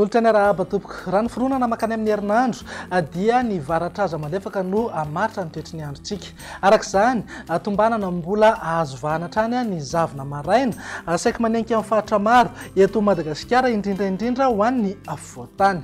Nolotsainy arahaba tompoko. Raha ny fironana mankany amin'ny herinandro dia ny varatra aza malefaka no hamaritra ny toetry ny androntsika. Araka izany, tombanana mbola azo vahana hatrany ny zavona maraina saiky manenika amin'ny faritra maro eto Madagasikara, indrindra indrindra ho an'ny afovoan-tany.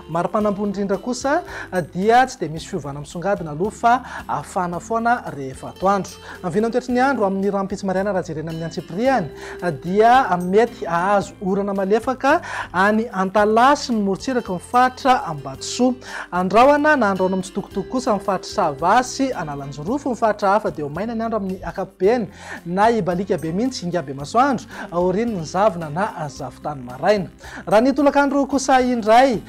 Mari-panampo indrindra kosa dia tsy dia misy fiovana misongadina aloha fa afana foana rehefa atoandro. Ny vinantoetry ny andro amin'ny rahampitso maraina raha jerena amin'ny antsipirihany dia mety hahazo orana malefaka any Antalaha sy ny morontsiraky ny faritra Ambatosoa. Andrahona na andrahona mitsitokotoko kosa ny faritr'i Sava sy Analanjirofo. Ny faritra hafa dia ho maina ny andro amin'ny ankapobeny na hibaliaka be mihitsy hingam-be masoandro aorian'ny zavona na zavon-tany maraina. Raha ny tolakandro kosa indray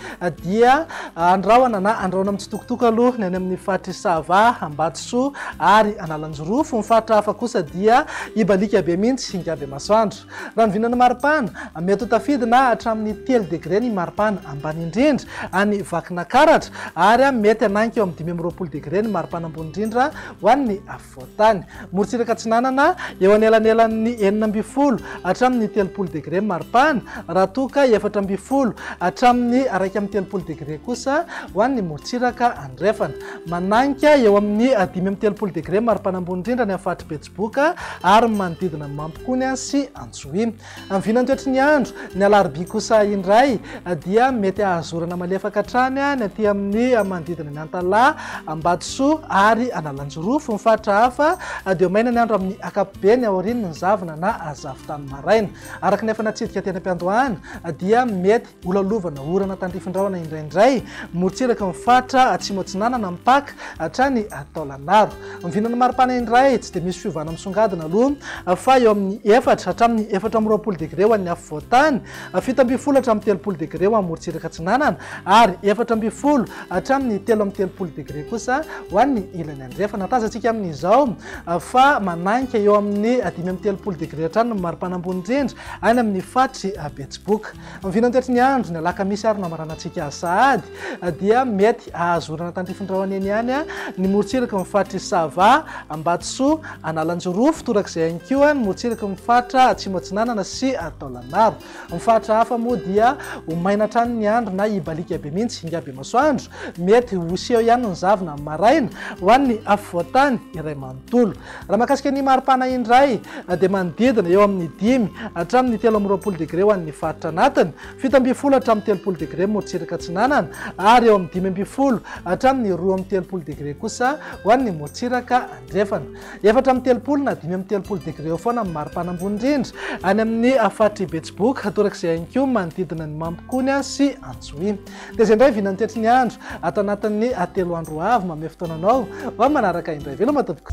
dia andrahona na andrahona mitsitokotoko aloha ny any amin'ny faritry Sava, Ambatosoa ary Analanjirofo. Ny faritra hafa kosa dia hibaliaka be mihitsy hingà be masoandro. Raha ny vinan'ny maripana, mety ho tafidy na hatramin'ny telo degre ny maripana ambany indrindra any Vakinakaratra ary mety hanainga eo amin'ny dimy amby roapolo degre ny maripana ambony indrindra ho an'ny Voatany, morontsiraka atsinanana, eo anelanelan'ny enina ambin'ny folo hatramin'ny telopolo degre mari-pana, raha toa ka efatra ambin'ny folo hatramin'ny iraika amby telopolo degre kosa ho an'ny morontsiraka andrefana. Manainga eo amin'ny dimy amby telopolo degre mari-pana ambony indrindra any amin'ny faritry Betsiboka ary ny manodidina Mampikony sy Antsohihy. Amin'ny vinantoetry ny andro, ny alarobia kosa indray dia mety hahazorana malefaka hatrany ny aty amin'ny manodidina an'i Antalaha, Ambatosoa ary Analanjirofo. Ny faritra hafa dia maina ny andro amin'ny ankapobeny aorian'ny zavona na zavon-tany maraina. Araka ny efa natsidika teny am-piandohana dia mety Ola lovana, orana tandrifin-drahona indraindray, morontsiraka ny faritra Atsimo Atsinanana, mipaka hatrany Taolagnaro. Vinan'ny maripana indray, tsy dia misy fiovana misongadina aloha fa eo amin'ny efatra hatramin'ny efatra amby roapolo degre ho an'ny afovoan-tany, fito ambin'ny folo hatramin'ny telopolo degre ho an'ny morontsiraka atsinanana ary efatra ambin'ny folo hatramin'ny telo amby telopolo degre kosa ho an'ny ilany andrefana. Tazantsika amin'izao fa manahika eo amin'ny dimy amby telopolo degre hatrany ny maripana ambony indrindra any amin'ny faritry Betsiboka. Ny vinantetry ny andro, ny alakamisy ary ny lamaranantsika sahady dia mety hahazorana tany Fifindraohana eny ihany ny morontsiraky ny faritr'i Sava, Ambatosoa, Analanjirofo, torak'izay ihany koa ny morontsiraky ny faritra Atsimo Atsinanana sy Taolagnaro. Ny faritra hafa moa dia ho maina hatrany ny andro na hibaliaka be mihitsy hingahy be masoandro. Mety ho seho ihany ny zavona amin'ny maraina ho an'ny afovoan-tany iray manontolo. Raha mahakasika ny maripana indray dia manodidina eo amin'ny dimy hatramin'ny telo amby roapolo degre ho an'ny faritra anatiny, fito ambin'ny folo hatramin'ny telopolo degre morotsiraka atsinanana ary eo amin'ny dimy ambin'ny folo hatramin'ny roa amby telopolo degre kosa ho an'ny morotsiraka andrefana. Efatra amby telopolo na dimy amby telopolo degre eo foana amin'ny maripana ambony indrindra any amin'ny faritr'i Betsiboka, torak'izay ihany koa manodidina ny Mampikony sy Antsohihy. Dia izay indray vina ny tetry ny andro ato anatin'ny telo andro ho avy. Manome fotoana anao ho amin'ny manaraka indray. Veloma tompoko.